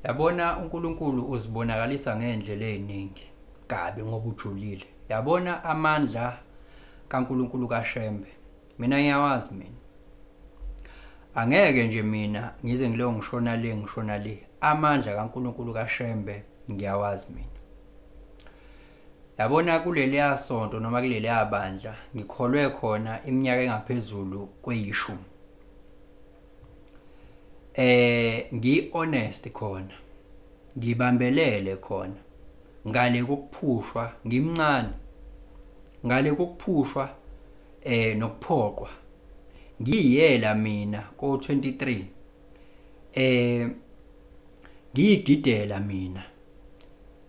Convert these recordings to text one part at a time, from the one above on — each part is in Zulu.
Yabona uNkulunkulu uzibonakalisa ngey'ndlela ey'ningi kabi ngoba ujulile. Yabona amandla kaNkulunkulu kaShembe. Mina ngiyawazi mina. Angeke nje mina ngize ngileyo ngishona le ngishona le. Amandla kaNkulunkulu kaShembe ngiyawazi mina. Yabona kuleliya sonto noma kuleliya bandla ngikholwe khona iminyaka engaphezulu kweyishumi. eh ngi honest khona ngibambelele khona ngale kokuphushwa ngimncane ngale kokuphushwa eh nokuphoqwa ngiyela mina ko 23 eh ngiyigidela mina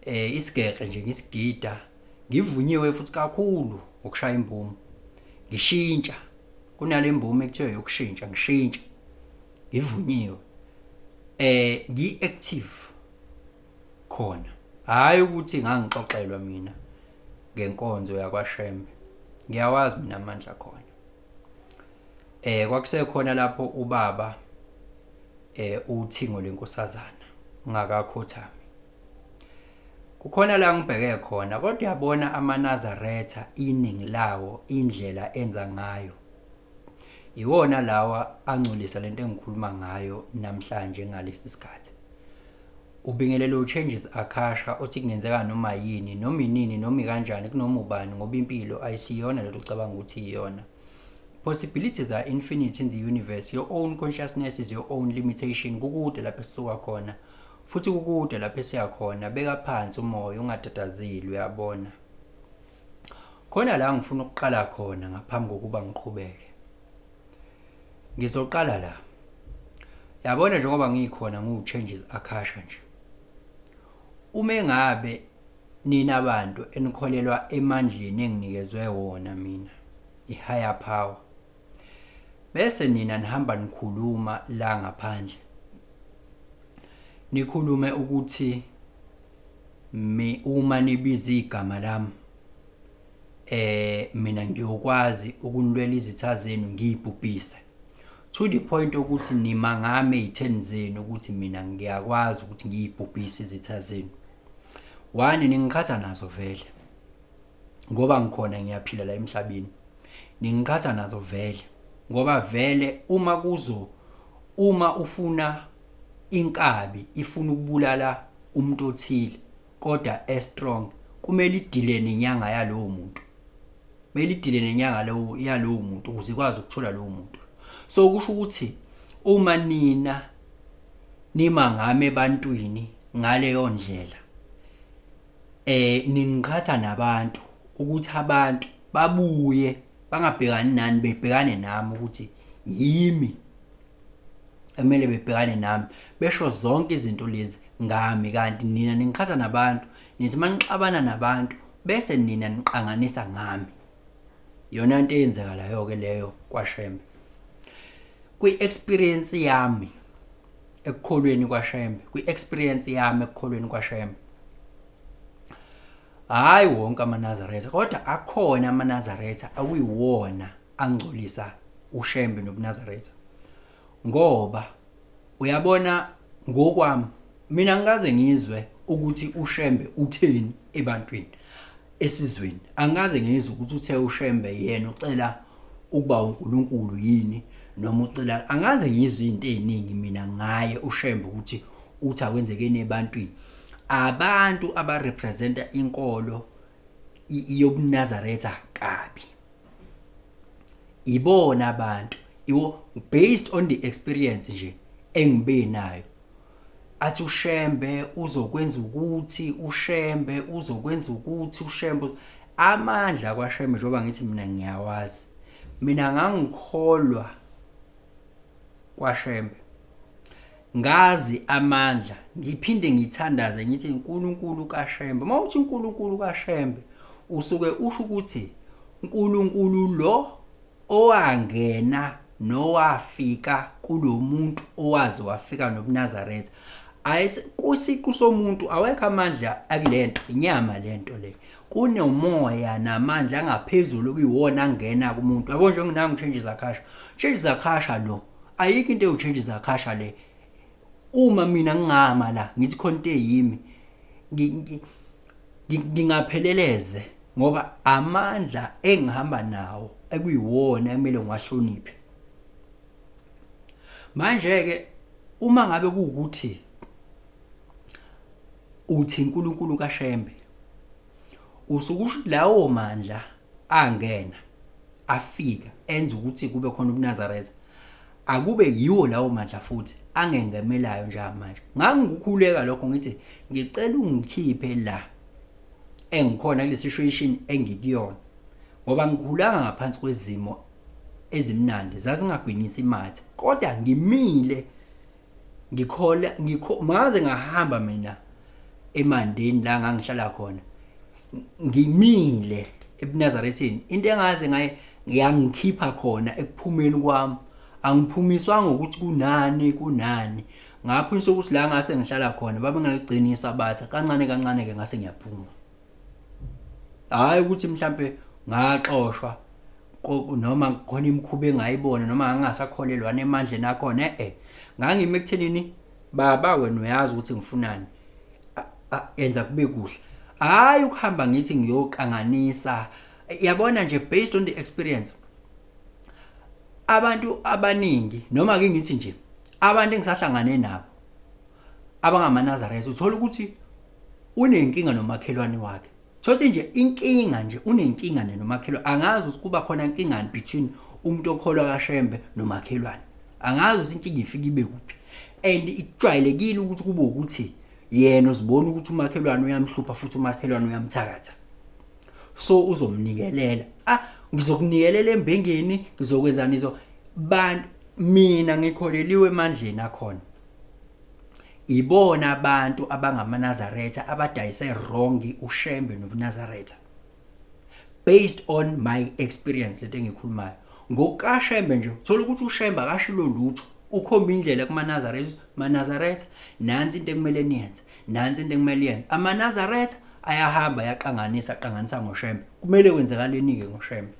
eh isigege nje ngisigida ngivunyiwe futhi kakhulu ukushaya imbumo ngishintsha kunale mbume kuthiwa yokushintsha ngishintsha ngivunyiwe eh ngi active khona hayi ukuthi ngangixoxelwa mina ngenkonzo yakwaShembe ngiyawazi mina amandla khona eh kwakusekhona lapho ubaba eh uthingo lenkosazana ngakakhothami Kukhona la ngibheke khona kodwa yabona amanazaretha iningi lawo indlela enza ngayo. Iwona lawa angcolisa lento engikhuluma ngayo namhlanje ngalesi sikhathi. Ubingelele uChanges Akasha othi kungenzeka noma yini noma inini noma ikanjani kunoma ubani ngoba impilo ayisiyona lento ucabanga ukuthi iyona. Possibilities are infinite in the universe. Your own consciousness is your own limitation. Kukude lapho esisuka khona. futhi kukude lapho esiya khona beka phansi umoya ungatatazeli uyabona khona la ngifuna ukuqala khona ngaphambi kokuba ngiqhubeke ngizoqala la yabona njengoba ngikhona ngiwu-changes akasha nje uma engabe nina bantu enikholelwa emandleni enginikezwe wona mina i-higher power bese nina nihamba nikhuluma la ngaphandle nikhulume ukuthi mi uma nibiza igama lami eh mina ngiyokwazi ukunilwela izitha zenu ngiyibhubhise to the point ukuthi nima ngami ezitheni zenu ukuthi mina ngiyakwazi ukuthi ngiyibhubhise izitha zenu wani ningiqhatha nazo vele ngoba ngikhona ngiyaphila la emhlabeni ningiqhatha nazo vele ngoba vele uma kuzo uma ufuna inkabi ifuna ukubulala umuntu othile kodwa e strong kumele idile nenyanga yalowo muntu kumele idile nenyanga lowo yalowo muntu ukuze ikwazi ukuthola lowo muntu so kusho ukuthi uma nina nima ngami ebantwini ngaleyo ndlela eh ningiqhatha nabantu ukuthi abantu babuye bangabhekani nani bebhekane nami ukuthi yimi ekumele bebhekane nami besho zonke izinto lezi ngami kanti nina ningiqhatha nabantu nithi manixabana nabantu bese nina niqanganisa ngami yona into eyenzekalayo ke leyo kwashembe kwi experience yami ekukholweni kwaShembe kwi-experience yami ekukholweni kwaShembe hayi wonke amanazaretha kodwa akhona amanazaretha akuyiwona angcolisa uShembe nobunazaretha ngoba uyabona ngokwami mina ngikaze ngizwe ukuthi uShembe utheni ebantwini esizweni angikaze ngizwe ukuthi uthe ushembe yena ucela ukuba uNkulunkulu yini noma ucela angaze ngizwe izinto eziningi mina ngaye ushembe ukuthi uthi akwenzekeni ebantwini abantu abarepresenta inkolo yobunazaretha kabi ibona abantu iwo based on the experience nje engibe nayo athi ushembe uzokwenza ukuthi ushembe uzokwenza ukuthi ushembe amandla kwashembe njengoba ngithi mina ngiyawazi mina ngangikholwa kwashembe ngazi amandla ngiphinde ngithandaze ngithi uNkulunkulu kaShembe uma uthi uNkulunkulu kaShembe usuke usho ukuthi uNkulunkulu lo owangena nowafika kulo muntu owazi wafika nobunazaretha kusiqu somuntu awekho amandla akulento inyama lento le kunomoya namandla angaphezulu kuyiwona angena kumuntu yabo njengenami change zakhasha change zakhasha lo ayikho into ewuchange zakhasha le uma mina ngingama la ngithi khona into eyimi ngingapheleleze ngoba amandla engihamba nawo ekuyiwona ekumele ngiwahloniphe manje ke uma ngabe kuwukuthi uthi uNkulunkulu kaShembe usukusho lawo mandla angena afika enza ukuthi kube khona ubunazaretha akube yiwo lawo mandla futhi angengemelayo njengamanje ngangikukhuleka lokho ngithi ngicela ungikhiphe la engikhona kule situation engikuyona ngoba ngikhulanga ngaphansi kwezimo ezimnandi zazingagwinyisi imathe kodwa ngimile ngikhola ngikho ngaze ngahamba mina emandeni la ngangihlala khona ngimile ebunazarethini into engaze ngaye ngiyangikhipha khona ekuphumeni kwami angiphumiswanga ukuthi kunani kunani ngapho insuku ukuthi la ngase ngihlala khona babengaligcinisa batha kancane kancane ke ngase ngiyaphuma hhayi ukuthi mhlampe ngaxoshwa noma khona imikhuba engayibona noma ngangasakholelwana emandleni akhona e-e ngangime ekuthenini baba wena uyazi ukuthi ngifunani enza kube kuhle hhayi ukuhamba ngithi ngiyoqanganisa yabona nje based on the experience abantu abaningi noma ke ngithi nje abantu engisahlangane nabo abangamanazaretha uthola ukuthi unenkinga nomakhelwane wakhe thothi nje inkinga nje unenkinga nomakhelwane angazi ukuthi kuba khona inkingani between umuntu okholwa kashembe nomakhelwane angazi ukuthi inkinga ifika ibe kuphi and ijwayelekile ukuthi kube ukuthi yena uzibona ukuthi umakhelwane uyamhlupha futhi umakhelwane uyamthakatha so uzomnikelela ah ngizokunikelela embengeni ngizokwenzani izo bantu mina ngikholeliwe emandleni akhona ibona abantu abangamaNazaretha abadayise wrong uShembe nobuNazaretha based on my experience lento engikhulumayo ngokukaShembe nje uthola ukuthi uShembe akashilo lutho ukhomba indlela kumaNazaretha maNazaretha nansi into ekumele niyenze nansi into ekumele yenze amaNazaretha ayahamba yaqanganisa aqanganisa ngoShembe kumele kwenzakaleni ke ngoShembe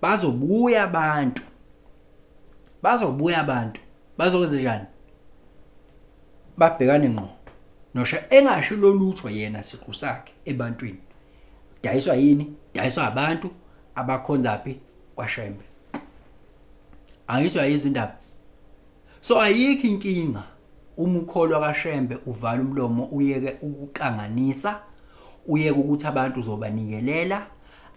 bazobuya abantu bazobuya abantu bazokwenza njani babhekane ngqo nosha engasho lolutho yena siqu sakhe ebantwini dayiswa yini dayiswa abantu abakhonza phi kwashembe angithiwa yizindaba so ayikho inkinga Uma ukholwa kaShembe uvala umlomo uyeke ukuqanganisa, uyeke ukuthi abantu uzobanikelela,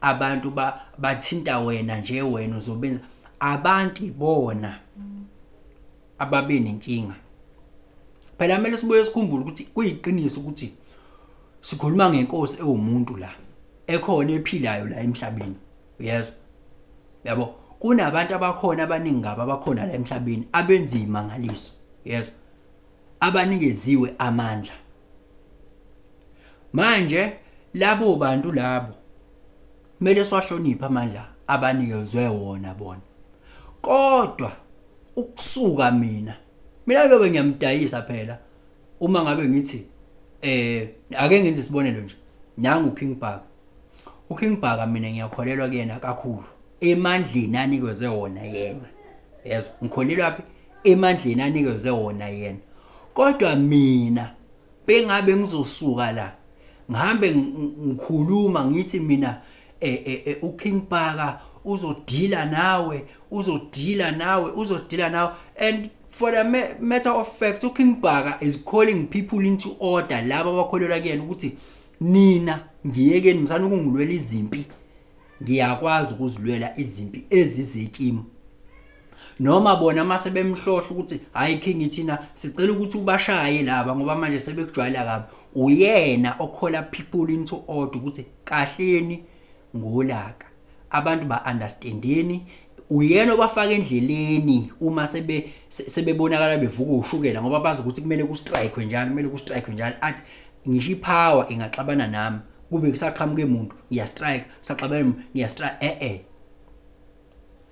abantu ba, bathinta wena nje wena uzobenza abantu ibona ababe nenkinga. Phela kumele sibuye sikhumbule ukuthi kuyiqiniso ukuthi sikhuluma ngenkosi ewumuntu la ekhona ephilayo la emhlabeni. uyezwa yabo kunabantu abakhona abaningi ngabo abakhona la emhlabeni abenza imangaliso yezwa abanikeziwe amandla manje labo bantu labo kumele siwahloniphe amandla abanikezwe wona bona kodwa ukusuka mina mina bebe ngiyamdayisa phela uma ngabe ngithi eh ake ngenze isibonelo nje nangu King Bhaka uKing Bhaka mina ngiyakholelwa kuyena kakhulu emandleni anikezwe wona yena yezwa ngikholelwa phi emandleni anikezwe wona yena kodwa mina bengabe ngizosuka la ngihambe ngikhuluma ngithi mina e, e, e, uKing Bhaka uzodila nawe uzodila nawe uzodila nawe and for the matter of fact uKing Bhaka is calling people into order laba abakholelwa kuyena ukuthi nina ngiyekeni msana ukungilwela izimpi ngiyakwazi ukuzilwela izimpi ezizekimi noma bona mase bemhlohla ukuthi hayi king ithina sicela ukuthi ubashaye laba ngoba manje sebekujwayela kabi uyena okhola people into order ukuthi kahleni ngolaka abantu ba understandeni uyena obafaka endleleni uma sebe sebebonakala bevuka ushukela ngoba bazi ukuthi kumele ku strike njalo kumele ku strike njalo athi ngisho ipower ingaxabana nami kube kusaqhamuke umuntu ngiya strike saxabana ngiya strike eh eh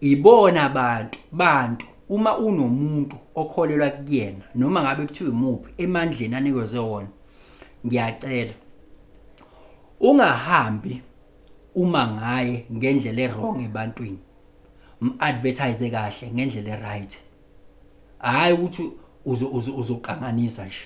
ibona abantu bantu uma unomuntu okholelwa kuyena noma ngabe kuthiwa imuphi emandleni anikezwe wona ngiyacela ungahambi uma ngaye ngendlela erong ebantwini mu-advertise kahle ngendlela eright hhayi ukuthi uzoqanganisa nje